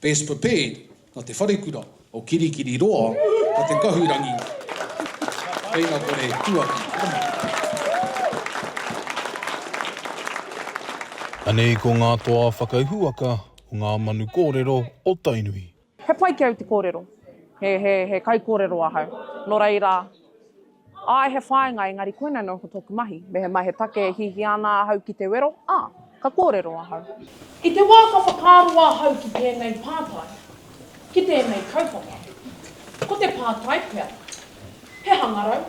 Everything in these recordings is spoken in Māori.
Best prepared, na te wharekura o Kirikiri roa, ko te kahurangi Whainakore Tuaki Tama. Anei ko ngā toa whakahuaka o ngā manu kōrero o Tainui. He pai ki au te kōrero. He kaikōrero ahau. Nō reira, Āe, he whāinga, engari koinei anō ko tōku mahi. Mehemai he take e hiahia ana ahau ki te wero, ā, ka kōrero ahau. I te wā ka whakaaro ahau ki tēnei pātai, ki tēnei kaupapa, ko te pātai pea, he hangarau,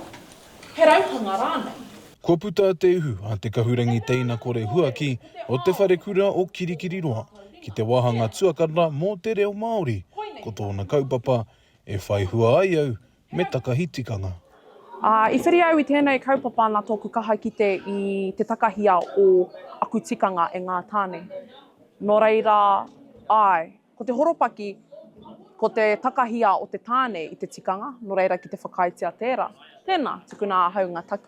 he rauhanga rānei? Kua puta te uhu a te kahurangi teina kore huaki o Te Wharekura o Kirikiriroa ki te wāhanga tuakana mō te reo Māori, ko tōna kaupapa, E whai hua ai au, Me takahi tikanga. Ā, i whiri au i tēnei kaupapa nā tōku kaha kite i te takahia o aku tikanga e ngā tāne. Nō reira, āe, ko te horopaki, ko te takahia o te tāne i te tikanga, nō reira ki te whakaaetia tērā. Tēnā, tukuna ahau ngā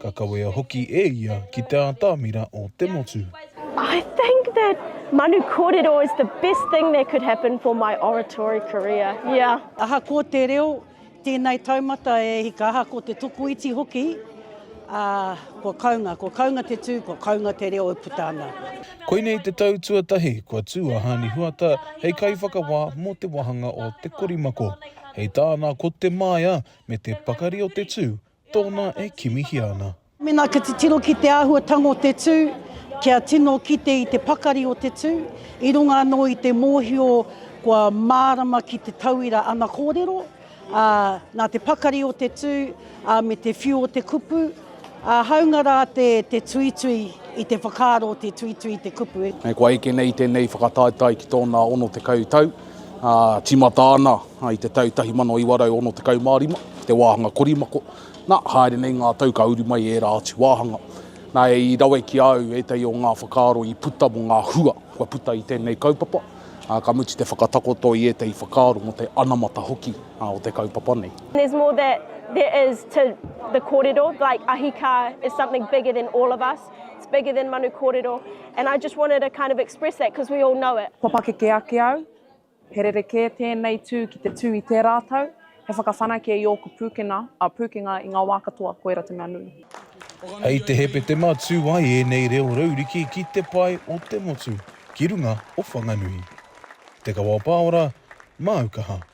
Ka kawea hoki e ia ki te ātamira o te motu. I think that manu kōrero is the best thing that could happen for my oratory career, yeah. Ahakoa te reo, tēnei taumata e hika, ahakoa te tokoiti hoki, ā, kua kaunga, kua kaunga te tū, kua kaunga te reo e puta ana. Koinei te tau tuatahi kua tū a Haani Huata hei kaiwhakawā mō te wāhanga o Te Korimako. Hei tāna ko Te Māia me te pakari o te tū, Tōna e kimihia ana. Mēnā ka titiro ki te āhuatanga o te tū, kia tino kite i te pakari o te tū, i runga anō i te mōhio kua mārama ki te tauira ana kōrero, ā, nā te pakari o te tū, ā, me te whiu o te kupu, ā, hāunga rā te, te tuitui i te whakaaro, te tuitui i te kupu. Kua eke nei tēnei whakataetae ki tōna 60 tau, Tīmata ana i te tau 1965 te wāhanga korimako, nā, haere nei ngā tau ka uru mai ērā atu wāhanga. Nā, i rawe ki a au ētahi o ngā whakaaro i puta mō ngā hua kua puta i tēnei kaupapa, ā, ka mutu te whakatakoto i ētahi whakaaro mō te anamata hoki o te kaupapa nei. There's more that there is to the kōrero, like ahi kā is something bigger than all of us, It's bigger than manu kōrero and I just wanted to kind of express that because we all know it. Kua pakeke ake au, he rerekē tēnei tū ki te tū i tērā tau, he whakawhanake i ōku pūkenga, ā, pūkenga i ngā wā katoa, koira te mea nui. Hei te Hepetema tū ai ēnei reo rauriki ki te pae o te motu ki runga o Whanganui. Te Kawao Pāora, Māu Kaha.